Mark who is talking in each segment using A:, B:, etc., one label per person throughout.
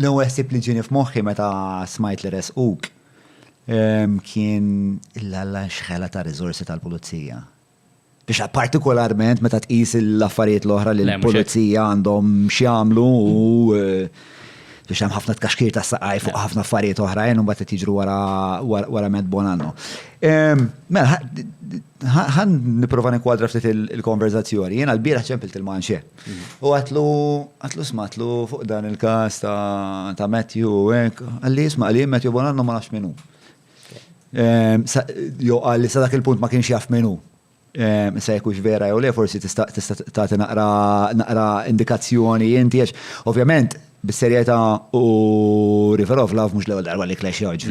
A: L-ewwel ħsieb li ġieni f'moħħi meta smajt li resquk ehm, kien il-alla xħela ta' riżorsi tal-pulizija biex partikolarment meta tqis l-affarijiet l-oħra li l-pulizija għandhom x'jagħmlu u eh, biex hemm ħafna tkaxkir ta' saqaj fuq ħafna affarijiet oħrajn u mbagħad qed jiġru wara wara Matt Bonanno. Ehm, mela, ħan nipprova nikwadra ftit il-konverzazzjoni. Jiena l-bieraħ ċempilt il-manxie. U għatlu, għatlu smatlu fuq dan il-kas ta' Matthew u għek, għalli jisma għalli Matthew Bonanno ma nafx minu. Ehm, jo għalli sa dak il-punt ma kienx jaf minu. Ehm, sa jekux vera jew le, forsi tista' tagħti naqra naqra indikazzjoni inti għax ovvjament bis-serjetà u Riverov laf mhux l-ewwel darba li klex joġ.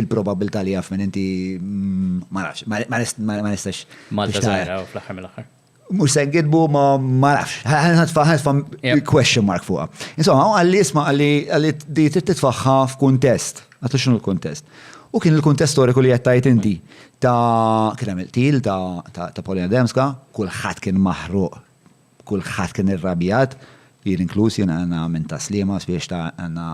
A: Il-probabilità li jaf minn inti mm, ma nafx, ma nistax. Malta żgħira fl-aħħar mill-aħħar. Mux se ngidbu ma ma nafx. Ħanħatfa ħanħatfa question mark fuqa. Insomma, għalli isma għalli għalli di titfaħħa f'kuntest. Għatu xinu l-kuntest. U kien il-kuntest storiku li jettajt inti ta' kien hemm il-til ta' Polina Demska, kulħadd kien maħruq, kulħadd kien irrabjat, jien inkluż jien għandna minn taslima spiex ta' għandna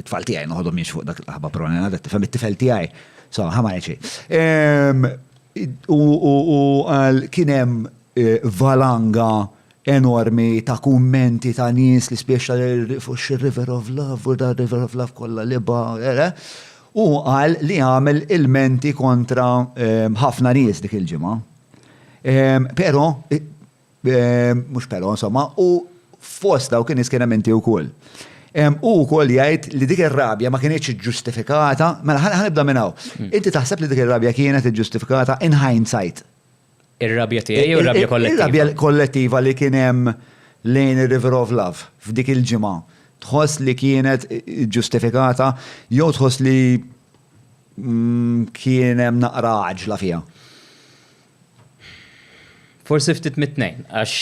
A: it-tfal tiegħi noħodhom jiex fuq dak l-aħba pronena, tifhem it-tifel tiegħi. So, ħama xejn. U qal kien hemm valanga enormi ta' kummenti ta' nies li spjeċta fuq xir-River of Love u da River of Love kollha li ba. U qal li għamel ilmenti kontra ħafna nies dik il-ġimgħa. Però Mhux però, insomma, u fost dawk in-nies kien hemm inti wkoll. Hu wkoll jgħid li dik ir-rabja ma kinitx iġġustifikata, mela ħa nibda minn hawn. Inti taħseb li dik ir-rabja kienet iġġustifikata in hindsight? Ir-rabja tiegħi jew ir-rabja kollettiva? Ir-rabja kollettiva li kien hemm lejn ir-River of Love f'dik il-ġimgħa. Tħoss li kienet iġġustifikata jew tħoss li kien hemm naqra għaġla fiha? Forsi ftit mit-tnejn, għax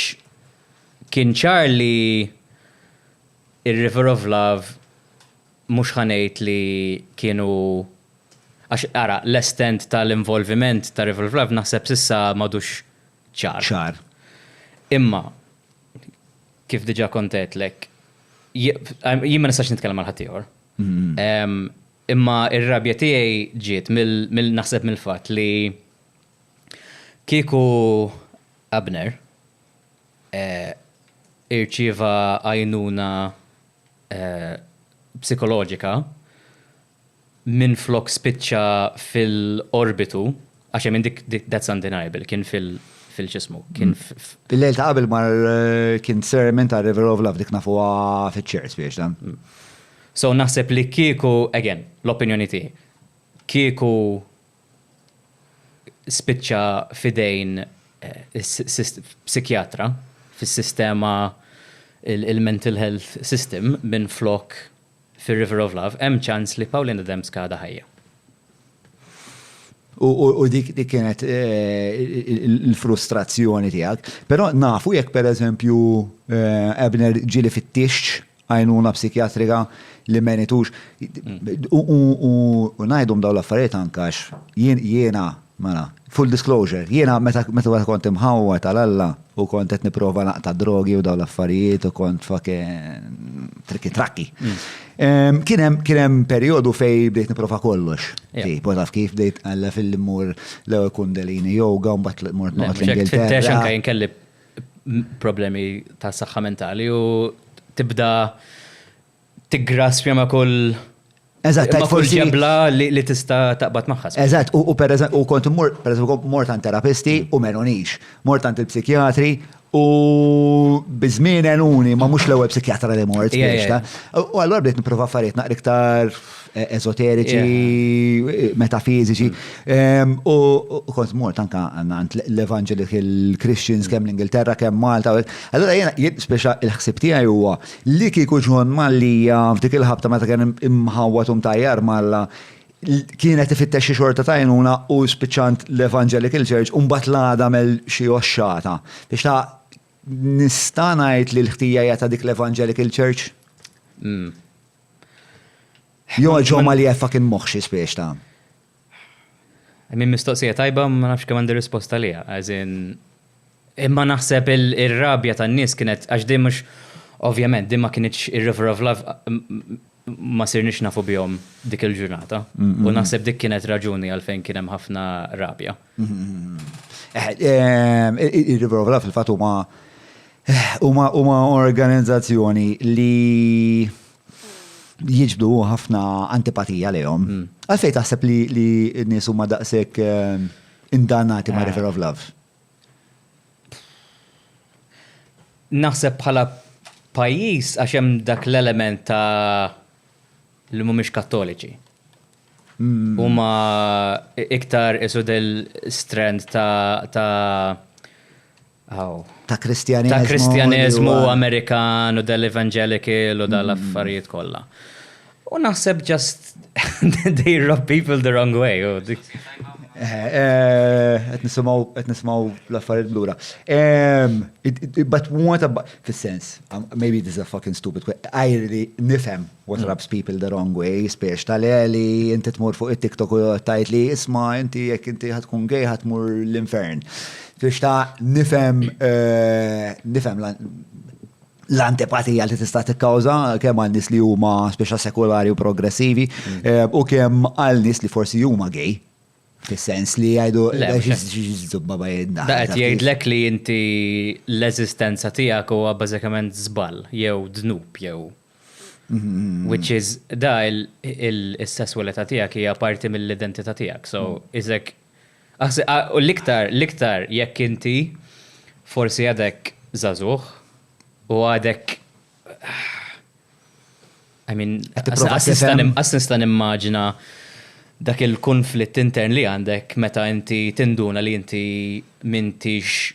A: kien ċar li r-River of Love mhux ħa ngħid li kienu għax ara, l-estent tal-involviment ta' River of Love naħseb s'issa m'għadux ċar. Ċar. Imma kif diġà kont għedtlek, jien ma nistax nitkellem għal ħaddieħor. Imma r-rabja tiegħi ġiet mill-naħseb mill-fatt li Kieku Abner irċieva għajnuna psikoloġika minflok spiċċa fil-qorbitu, għax hemm dik that's undeniable, kien fil- fil-x'ismu, kien f'. Il-lejl ta' qabel mar kien sermon ta' River of Love, dik nafuha fiċ-ċerz biex dan. So naħseb li kieku, again, l-opinjoni tiegħi, kieku spiċċa f'idejn psikjatra fis-sistema il-mental health system minflok fir-River of Love, hemm ċans li Pauline Adams għadha ħajja. U dik kienet il-frustrazzjoni tiegħek. Però nafu jekk pereżempju Abner ġieli fit-tixx għajnuna psikjatrika li meritux. U ngħidhom dawn l-affarijiet anke għax jiena, mela, full disclosure, jiena meta meta kont imħawwa tal-Alla u kont qed nipprova naqta' drogi u dawn l-affarijiet u kont fake trikki trakki. Kien hemm kien hemm perjodu fej bdejt nipprova kollox. Tipo taf kif bdejt għalla fil-li mmur l-ewwel kundalini yoga u mbagħad mort noqgħod l-Ingilterra. Tfittex anke jien kelli problemi ta' saħħa mentali u tibda tiggraspja ma' kull Eżatt, ma' kull ġebla li tista' taqbad magħha. Eżatt, u per u kont immur, per eżempju, mort għand terapisti mm. u menonix, mort għand il-psikjatri u bizmin enuni, ma mhux l-ewwel psikjatra li mort. U allura bdejt nipprova affarijiet naqra iktar e- esoteriċi, e- metafiziċi. Em, U u kont mort anka għand l- l-Evangelical Christians kemm l-Ingilterra, kemm Malta. u hekk. Allora jena, jien speċa il-ħsib tiegħi huwa li kieku ġon Mallija f'dik il-ħabta meta kien im- imħawwat u mtajjar malla l- kienet ifittex xi xorta tajnuna u spiċċant l-Evangelical Church u mbagħad l-għada mel xi oxxata. Biex ta' nista' ngħid li l-ħtija hija ta' dik l-Evangelical Church? Mm. Jo ġo ma li jeffa kien moħ xi spiex ta'. I mean mistoqsija tajba ma nafx kemm għandi risposta liha. As in imma naħseb ir-rabja tan-nies kienet għax din mhux ovvjament din ma kienitx ir-River of Love ma sirniex nafu bihom dik il-ġurnata. U naħseb dik kienet raġuni għalfejn kien hemm ħafna rabja. Ir-River of Love fil-fatt huma huma huma organizzazzjoni li jiġbdu ħafna antipatija lejhom. Hmm. Għalfejn taħseb li li n-nies huma daqshekk eh, indanati ma' eh. River of Love? Naħseb bħala pajjiż għax hemm dak l-element ta' li mhumiex kattoliċi. Huma iktar isu del strand ta' ta' kristjaneżmu. Ta' kristjaneżmu Amerikan u dell-evangelical u dal-affarijiet kollha. U naħseb just they rub people the wrong way. Qed nisimgħu l-affarijiet blura. But what about fis-sens, maybe this is a fucking stupid question, għajri nifhem What rubs people the wrong way, spiex tal-eli, inti tmur fuq it-TikTok u tajt li isma, inti jekk inti ħatkun gej ħatmur l-infern. Spiex ta' nifem, eh, nifem l-antipatija li tista' tikkawża kemm għal nies li huma speċa sekulari u progressivi mm. eh, u kemm għal nies li forsi huma gej. Fis-sens li jgħidu xizubba bajedna. Da qed jgħidlek li inti l-eżistenza tiegħek huwa bażikament żball jew dnub jew Which is, da il-sessualità tijak hija parti mill-identità tijak. So, izek, u l-iktar, l-iktar jekk inti forsi għadek zazuħ u għadek I mean, għasnista nimmaġina dak il-konflitt intern li għandek meta inti tinduna li inti mintix